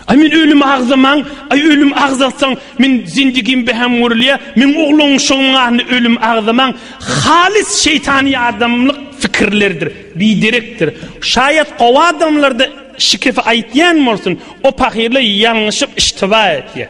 Aý men ölümi agzamaň, aý ölüm agzatsaň, men zindigim behäm görülýär, meň ogluň şoňňaryny ölüm agzamaň, halys şeýtany ýadamlyk fikirlerdir, biderekdir. Şaýat gowy adamlarda şikefi aýtýan bolsun, o pahyrlar ýalňyşyp iştiba etýär.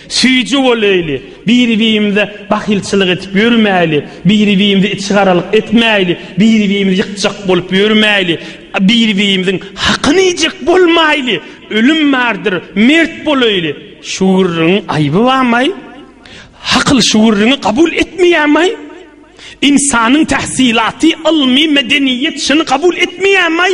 Süýji bolaýly, biri-birimize bahylçylyk edip ýörmäýli, biri-birimize içigaralyk etmäýli, biri-birimizi ýykjak bolup ýörmäýli, biri-birimiziň hakyny iýjek bolmaýly, ölüm bardyr, mert bolaýly. Şu gürrüňiň aýby barmaý? Hakyl şu gürrüňi kabul etmeýärmaý? Ynsanyň tähsilaty, ylmy, medeniýet şuny kabul etmeýärmaý?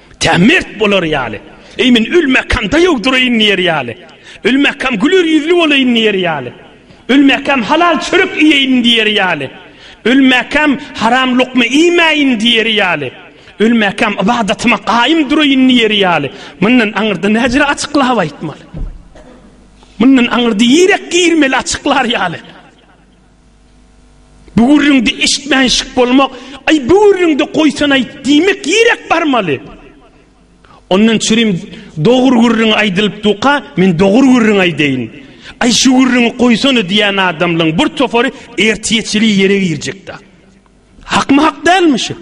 Tä mert bolar ýaly. Eý, men ölmekam-da ýogduraýyn diýer ýaly. Ölmekam güler ýüzli bolaýyn diýer ýaly. Ölmekam halal çörek iýeýin diýer ýaly. Ölmekam haram lukma iýmäýin diýer ýaly. Ölmekam ybadatyma gaýym duraýyn diýer ýaly. Mundan aňyrda näjere açyklap aýtmaly? Mundan aňyrda ýürek girmeli açyklar ýaly. Bu gürrüňde eşitmän şyk bolmak, Aý, bu gürrüňde goýsanaý diýmek ýerek barmaly. Ondan çürim dogry gürrüň aýdylyp duka, men dogry gürrüň aýdaýyn. Aý, şu gürrüňi goýsana diýen adamlaň bir topary ertiýeçili ýere girjek-dä. Hakmy hak dälmi şu?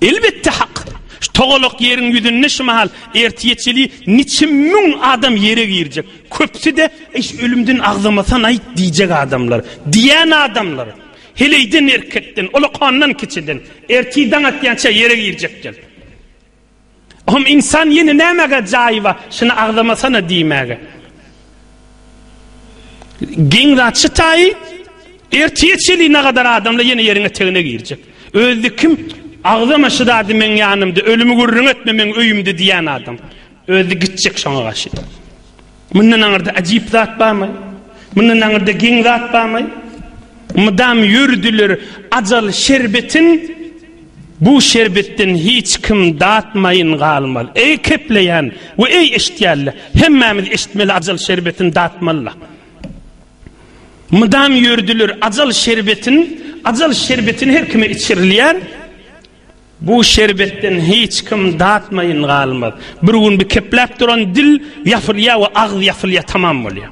Elbetde hak. Şu togalak ýeriň ýüzünde şu mahal ertiýeçeli niçe müň adam ýere girjek. Köpsi-de iş ölümden agzamasan aýt diýjek adamlar. Diýen adamlar. Heleýden erkekden, ulakandan kiçiden. Erti daň atýança ýere girjekler. Hom insan ýene nämege jaýy bar, şuny agzamasana diýmäge. Geň zat şu taýy, ertiýe çeli nagadar adamla ýene ýeriň etegine girjek. Özdi kim? Agzama şu zady meň ýanymda, ölümi gürrüň etme meň öýümde diýen adam. Özdi gitjek şoňa gaşy. Mundan aňyrda ajyp zat barmy? Mundan aňyrda geň zat barmy? Mydam ýörüdiler ajal şerbetin, Bu şerbetden hiç kim datmaýyn galmaz. Eý kepleýän we eý eşitýänler, hemmämiz eşitmeli ajal şerbetini datmalyla. Mydam ýörüdiler ajal şerbetin, ajal şerbetini her kime içirilýär. Bu şerbetden hiç kim datmaýyn galmaz. Bir gün bi kepläp duran dil ýapylýar we agyz ýapylýar, tamam bolýar.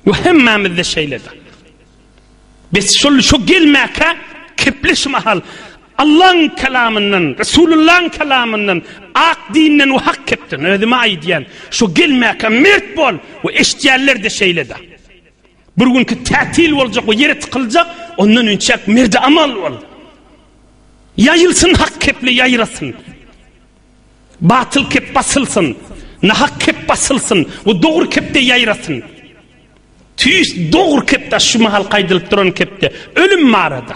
Bu hemmämizde şeýledir. Biz şol şu gelmäkä kepleş mahal Allaň kelamyndan, Resulullaň kelamyndan, ak dinden we hak kepden özüme aýdýan, şu gelmäkä mert bol we eşitýänler-de şeýledir. Bir günki tätil boljak we ýere tykyljak, ondan inçäk merdi amal bol. Ýaýylsyn hak kepli ýaýrasyn. Batyl kep basylsyn, nahak kep basylsyn we dogry kepde ýaýrasyn. Tüýs dogry kepde şu mahal gaýdylyp duran kepde ölüm barada.